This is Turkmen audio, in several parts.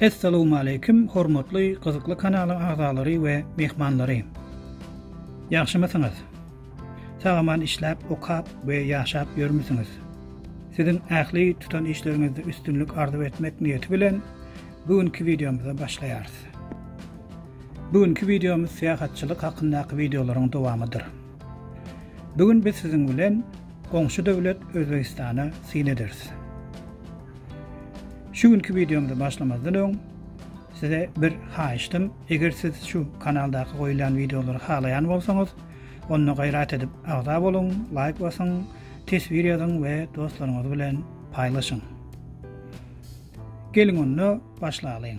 Essalowmaleýkim hormatly gyzykly kanalyň agzalary we myhmanlary. Ýagşymysyňyz? Sagaman işläp, okap we ýaşap ýörmüsiňiz? Siziň ähli tutan işleriňizde üstünlik arzuw etmek niýeti bilen bu günki wideomyza başlaýarys. Bu günki wideomyz syýahatçylyk hakyndaky wideolaryň dowamydyr. Bu gün biz siziň bilen goňşy döwlet Özbegistana syn ederis. Şu günki wideomyzy başlamazdan öň size bir haýyşdym. Eger siz şu kanaldaky goýulýan wideolary halaýan bolsaňyz, onda gaýrat edip agza boluň, laýk basyň, teswir ýazyň we dostlaryňyz bilen paýlaşyň. Geliň onda başlalyň.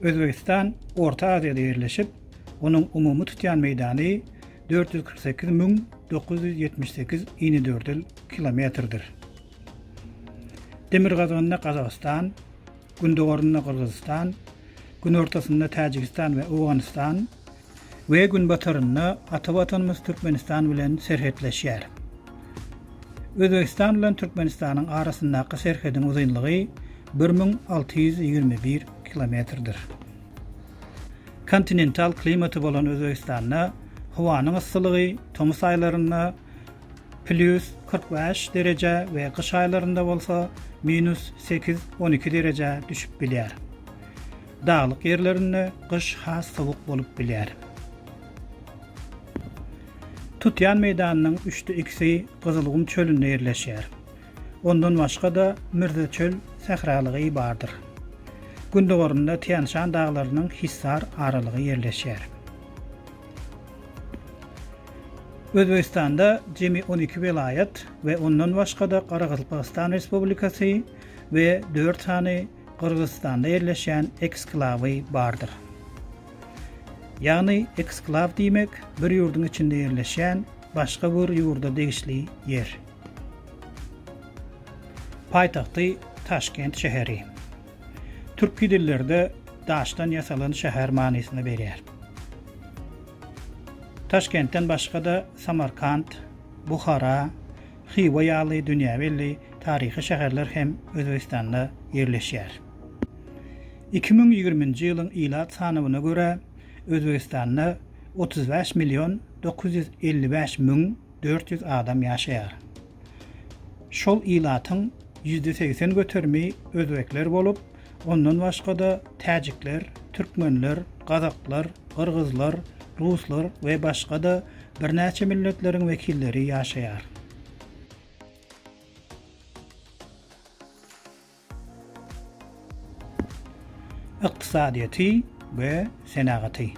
Özbegistan Orta Aziýada ýerleşip, onuň umumy tutýan meýdany dört ýüz kyrk sekiz müň dokuz ýüz ýetmiş sekiz inedördül kilometrdir. Demirgazygynda Gazagystan, gündogarynda Gyrgyzystan, günortasynda Täjigistan we Owganystan, we günbatarynda ata Watanymyz Türkmenistan bilen serhetleşýär. Özbegistan bilen Türkmenistanyň arasyndaky serhediň uzynlygy bir müň alty ýüz ýigrimi bir kilometrdir. Kontinental klimaty bolan Özbegistanda howanyň yssylygy tomus aýlarynda plýus kyrk bäş derejä we gyş aýlarynda bolsa minus sekiz, on iki derejä düşüp bilýär. Daglyk ýerlerinde gyş has sowuk bolup bilýär. Tutýan meýdanynyň üçde ikisi Gyzylgum çölünde ýerleşýär. Ondan başga-da Mürzeçöl sähralygy bardyr. Gündogarynda Týan-Şan daglarynyň Hissar aralygy ýerleşýär. Özbegistanda jemi on iki welaýat we ondan başga-da Garagazlpakystan Respublikasy we dört sany Gyrgyzystanda ýerleşýän eksklawy bardyr. Ýagny eksklaw diýmek bir ýurduň içinde ýerleşýän başga bir ýurda degişli ýer. Paýtagty Taşkent şäheri. Türki dillerde daşdan ýasalan şäher manysyny berýär. Taşkentden başga-da Samarkant, Buhara, Hywa ýaly dünýä belli taryhy şäherler hem Özbegistanda ýerleşýär. Iki müň ýigriminji ýylyň ilat sanawyna görä, Özbegistanda otuz bäş million dokuz ýüz elli bäş müň dört ýüz adam ýaşaýar. Şol ilatyň ýüzde segsen göterimi özbekler bolup, Ondan başga-da täjikler, türkmenler, gazaklar, gyrgyzlar, ruslar we başga-da birnäçe milletleriň wekilleri ýaşaýar. Ykdysadyýeti we senagaty.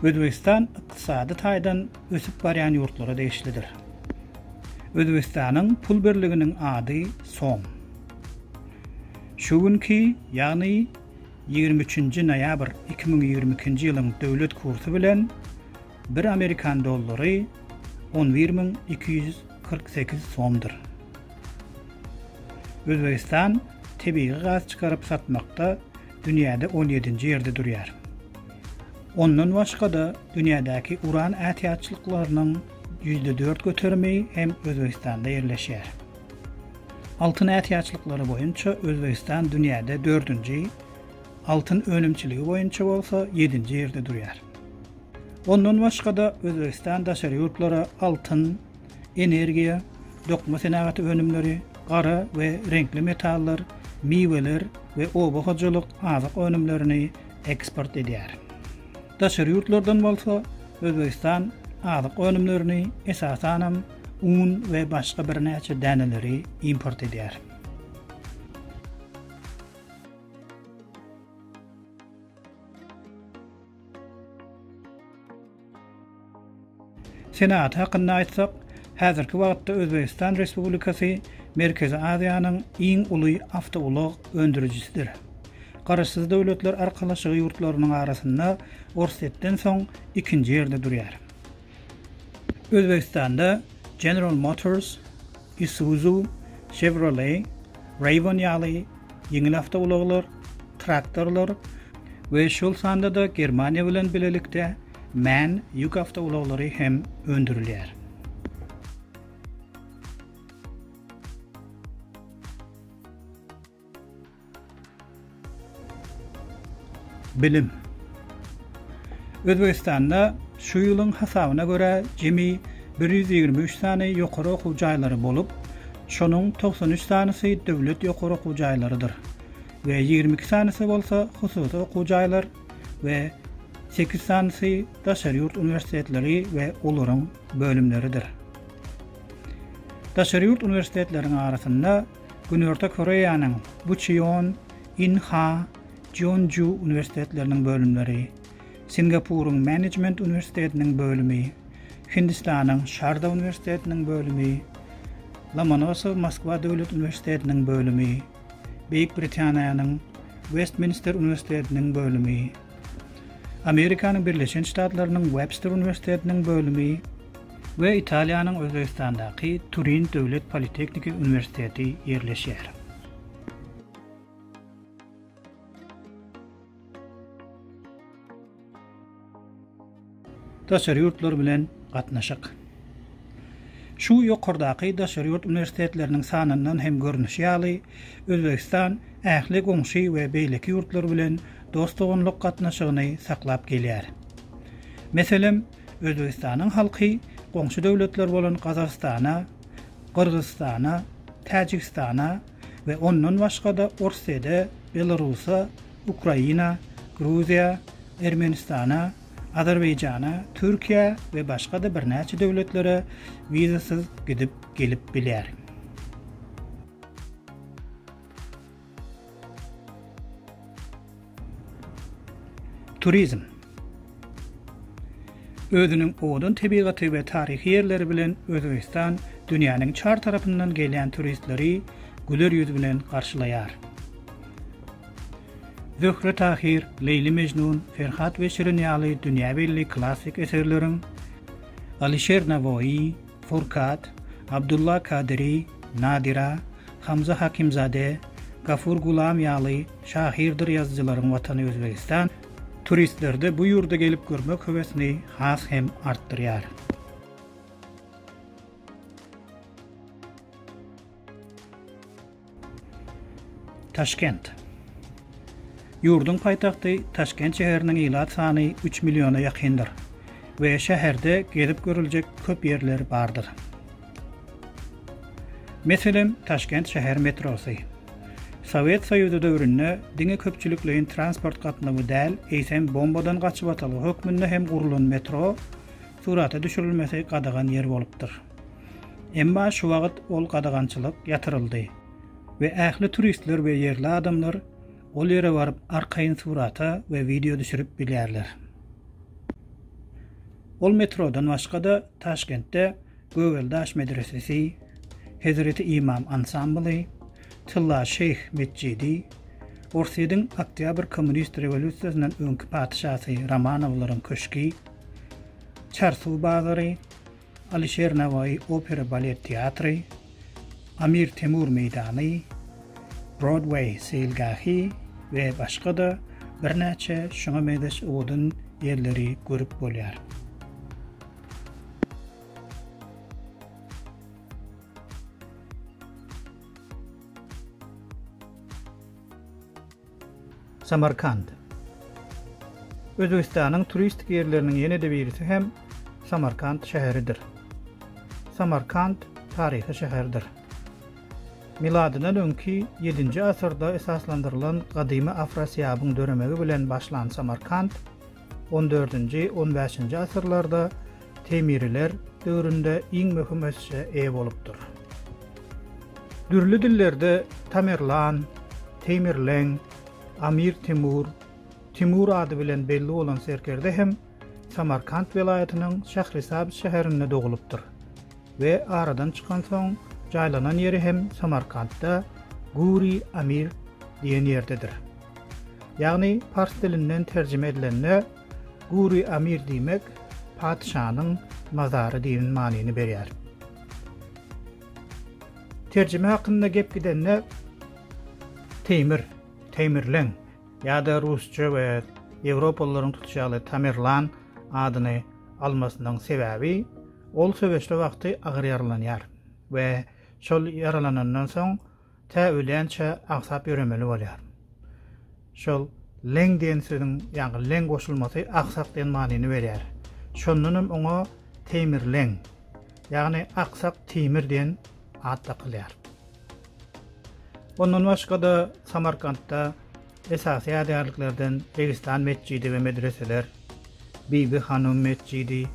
Özbegistan ykdysady taýdan ösüp barýan ýurtlara degişlidir. Özbegistanyň pul birliginiň ady som. Şu günki, ýagny ýigrimi üçünji noýabr iki müň ýigrimi ikinji ýylyň döwlet kursy bilen bir amerikan dollary on bir müň iki ýüz kyrk sekiz somdur. Özbegistan tebigy gaz çykaryp satmakda dünýäde on ýedinji ýerde durýar. Ondan başga-da dünýädäki uran ätiýaçlyklarynyň ýüzde dört göterimi hem Özbegistanda ýerleşýär. Altyn ätiýaçlyklary boýunça Özbegistan dünýäde dördünji, altyn önümçiligi boýunça bolsa ýedinji ýerde durýar. Ondan başga-da, Özbegistan daşary ýurtlara altyn, energiýa, dokma senagaty önümleri, gara we reňkli metallar, miweler we oba hojalyk azyk önümlerini eksport edýär. Daşary ýurtlardan bolsa Özbegistan azyk önümlerini, esasanam, un we başga birnäçe däneleri import edýär. Senagat hakynda aýtsak, häzirki wagtda Özbegistan Respublikasy Merkezi Aziýanyň iň uly awtoulag öndürijisidir. Garaşsyz Döwletler Arkalaşygy ýurtlarynyň arasynda Orsýetden soň ikinji ýerde durýar. Özbegistanda General Motors, Isuzu, Chevrolet, Rayvon ýaly ýeňil awtoulaglar, traktorlar we şol sanda-da Germaniýa bilen bilelikde MAN ýük awtoulaglary hem öndürilýär. Bilim. Özbegistanda şu ýylyň hasabyna görä jemi bir ýüz ýigrimi üç sany ýokary okuw jaýlary bolup, şonuň togsan üç sanysy döwlet ýokary okuw jaýlarydyr we ýigrimi iki sanysy bolsa hususy okuw jaýlar we sekiz sanysy daşary ýurt uniwersitetleri we olaryň bölümleridir. Daşary ýurt uniwersitetleriň arasynda Günorta Koreýanyň Bucheon, Inha, Jeonju uniwersitetleriniň bölümleri, Singapuryň Menejment uniwersitetiniň bölümi, Hindistanyň Şarda uniwersitetiniň bölümi, Lomonosow Moskwa döwlet uniwersitetiniň bölümi, Beýik Britaniýanyň Westminster uniwersitetiniň bölümi, Amerikanyň Birleşen Ştatlarynyň Webster uniwersitetiniň bölümi, we Italiýanyň Özbegistandaky Turin döwlet politehniki uniwersiteti ýerleşýär. Daşary ýurtlar bilen gatnaşyk. Şu ýokardaky daşary ýurt uniwersitetleriniň sanyndan hem görnüşi ýaly, Özbegistan ähli goňşy we beýleki ýurtlar bilen dost-doganlyk gatnaşygyny saklap gelýär. Meselem, Özbegistanyň halky goňşy döwletler bolan Gazagystana, Gyrgyzystana, Täjigistana we ondan başga-da Orsýede, Belarusa, Ukraina, Gruziýa, Ermenistana, Azerbaýjana, Türkiýä we başga-da birnäçe döwletlere wizasyz gidip gelip bilýär. Turizm. Özüniň owadan tebigaty we taryhy ýerleri bilen Özbegistan dünýäniň çar tarapyndan gelýän turistleri güler ýüz bilen garşylaýar. Zöhre Tahyr, Leýli Mejnun, Ferhat we Şirin ýaly dünýä belli klassyk eserleriň, Alyşer Nawoýy, Furkat, Abdulla Kadyry, Nadira, Hamza Hakimzade, Gafur Gulam ýaly şahyrdyr ýazyjylaryň watany Özbegistan turistlerde bu ýurda gelip görmek höwesini has hem artdyrýar. Taşkent. Ýurduň paýtagty Taşkent şäheriniň ilat sany üç milliona ýakyndyr we şäherde gezip görüljek köp ýerler bardyr. Meselem, Taşkent şäher metrosy. Sowet Soýuzy döwründe diňe köpçülikleýin transport gatnawy däl, eýsem bombadan gaçybatalga hökmünde hem gurlan metro surata düşürilmesi gadagan ýer bolupdyr. Emma şu wagt ol gadagançylyk ýatyryldy we ähli turistler we ýerli adamlar ol ýere baryp arkaýyn surata we wideo düşürip bilýärler. Ol metrodan başga-da Taşkentde Gögeldaş medresesi, Hezreti Imam ansambly, Tylla şeýh metjidi, Orsýediň Oktýabr kommunist rewolýusiýasyndan öňki patyşasy Romanowlaryň köşgi, Çarsuw bazary, Alyşer Nawaýy opera-balet teatry, Amir Temur meýdany, Brodweý seýilgähi we başga-da birnäçe şuňa meňzeş owadan ýerleri görüp bolýar. Samarkand. Özbegistanyň turistik ýerleriniň ýene-de birisi hem Samarkand şäheridir. Samarkand taryhy şäherdir. Miladyndan öňki ýedinji asyrda esaslandyrylan gadymy Afrasiýabyň döremegi bilen başlan Samarkand On dördünji, on bäşinji asyrlarda Temiriler döwründe iň möhüm ösüşe eýe bolupdyr. Dürli dillerde Tamerlan, Teýmirleň, Amir Temur, Timur ady bilen belli bolan serkerde hem Samarkant welaýatynyň Şährisabz şäherinde dogulypdyr we aradan çykansoň jaýlanan ýeri hem Samarkantda Guri Amir diýen ýerdedir. Ýagny pars dilinden terjime edilende Guri Amir diýmek Patyşanyň mazary diýen manyny berýär. Terjime hakynda gep gidende Teýmir, Teýmirleň ýa-da rusça we ýewropalylaryň tutuşy ýaly Tamerlan adyny almasynyň sebäbi ol söweşde wagty agyr ýaralanýar we şol ýaralanandan soň Tä ölýänçä aňsap ýöremeli bolýar. Şol leň diýen sözüň ýaňky leň goşulmasy aksak diýen manyny berýär. Şondan hem oňa Teýmirleň, ýagny Aksak Teýmir diýen at dakylýar. Ondan başga-da Samarkantda Esasy ýadygärliklerden Registan metjidi we medreseler, Bibi Hanum metjidi,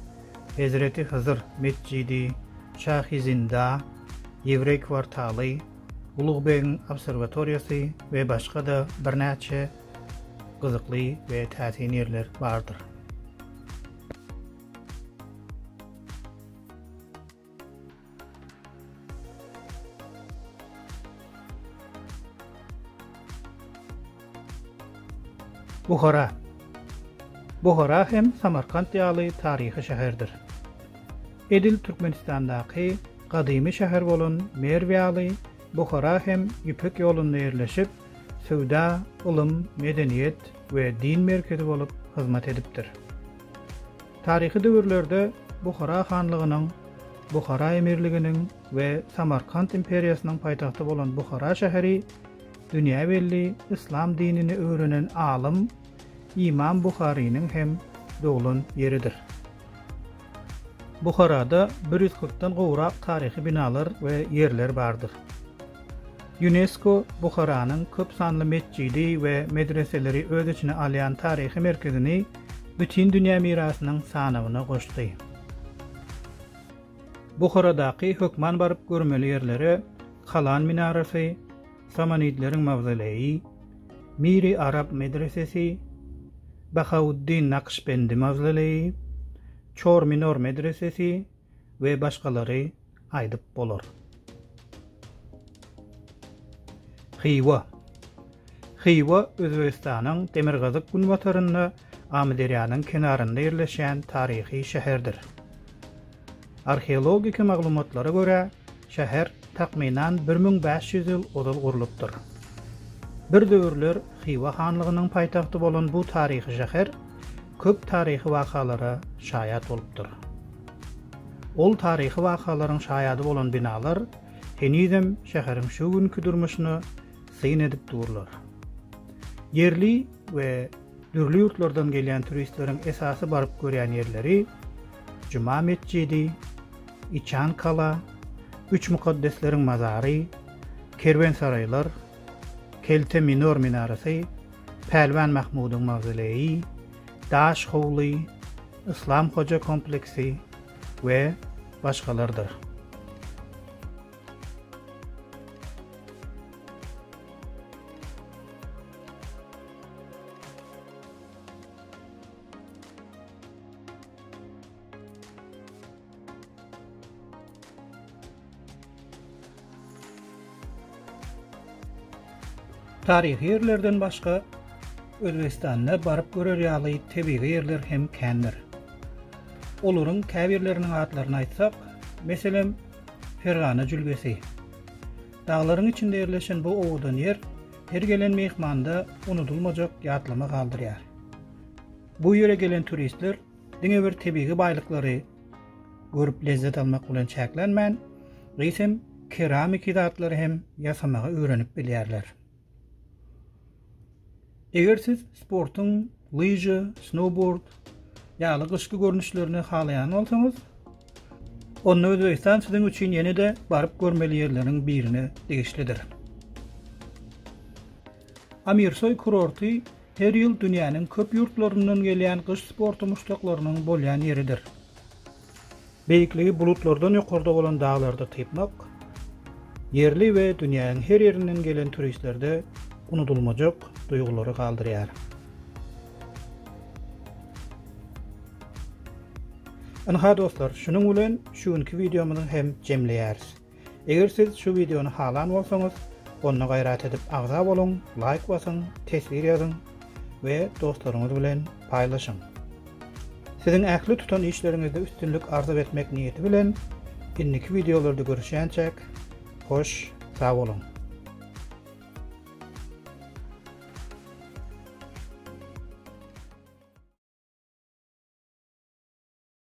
Hezreti Hyzyr metjidi, Şahi Zinda, Ýewreý kwartaly, Ulugbegiň obserwatoriýasy we başga-da birnäçe gyzykly we täsin ýerler bardyr. Buhara Buhara hem Samarkant ýaly taryhy şäherdir. Edil Türkmenistandaky gadymy şäher bolan Merw ýaly, Buhara hem Ýüpek ýolunda ýerleşip, söwda, ylym, medeniýet we din merkezi bolup hyzmat edipdir. Taryhy döwürlerde Buhara hanlygynyň, Buhara emirliginiň we Samarkant imperiýasynyň paýtagty bolan Buhara şäheri dünýä belli yslam dinini öwrenen alym Imam Buharynyň hem doglan ýeridir. Buharada bir ýüz kyrkdan gowrak taryhy binalar we ýerler bardyr. Ýunesko Buharanyň köp sanly metjidi we medreseleri öz içine alýan taryhy merkezini Bütindünýä mirasynyň sanawyna goşdy. Buharadaky hökman baryp görmeli ýerlere Kalan minarasy, Samanidleriň mawzoleýi, Miri Arab medresesi, Bahauddin Nakşbendi mawzoleýi, Çor Minor medresesi, we başgalary aýdyp bolar. Hywa Hywa Özbegistanyň demirgazyk-günbatarynda Amyderýanyň kenarynda ýerleşýän taryhy şäherdir. Arheologik maglumatlara görä, Şäher takmynan bir müň bäş ýüz ýyl ozal gurlupdyr. Bir döwürler Hywa hanlygynyň paýtagty bolan bu taryhy şäher köp taryhy wakalara şaýat bolupdyr. Ol taryhy wakalaryň şaýady bolan binalar henizem şäheriň şu günki durmuşyna syn edip durlar. Ýerli we dürli ýurtlardan gelýän turistleriň esasy baryp görýän ýerleri, Juma metjidi, Içan kala, Üç mukaddesleriň mazary, kerwensaraýlar, Kelte Minor minarasy, Pälwan Mahmudyň mawzoleýi, Daş howly, Yslam Hoja kompleksi we başgalardyr. Taryhy ýerlerden başga Özbegistanda baryp görer ýaly tebigy ýerler hem kändir. Olaryň käbirleriniň atlaryny aýtsak, meselem, Fergana jülgesi. Daglaryň içinde ýerleşen bu owadan ýer her gelen myhmanda unudylmajak ýatlama galdyrýar. Bu ýere gelen turistler diňe bir tebigy baýlyklary görüp lezzet almak bilen çäklenmän, eýsem keramiki zatlary hem ýasamagy öwrenip bilýärler. Eger siz sportuň lyža, snowboard ýaly gyşky görnüşlerini halaýan bolsaňyz, onda Özbegistan siziň üçin ýene-de baryp görmeli ýerleriň birine degişlidir. Amirsoý kurorty her ýyl dünýäniň köp ýurtlaryndan gelýän gyş sporty muşdaklarynyň bolýan ýeridir. Beýikligi bulutlardan ýokarda bolan daglarda typmak, ýerli we dünýäniň her ýerinden gelen turistlerde unudylmajak duýgulary galdyrýar. Ynha dostlar, şunuň bilen şu günki wideomyzy hem jemleýäris. Eger siz şu wideony halan bolsaňyz, onda gaýrat edip agza boluň, laýk basyň, teswir ýazyň we dostlaryňyz bilen paýlaşyň. Siziň ähli tutan işleriňizde üstünlik arzuw etmek niýeti bilen, indiki wideolarda görüşýänçäk, hoş, sag boluň!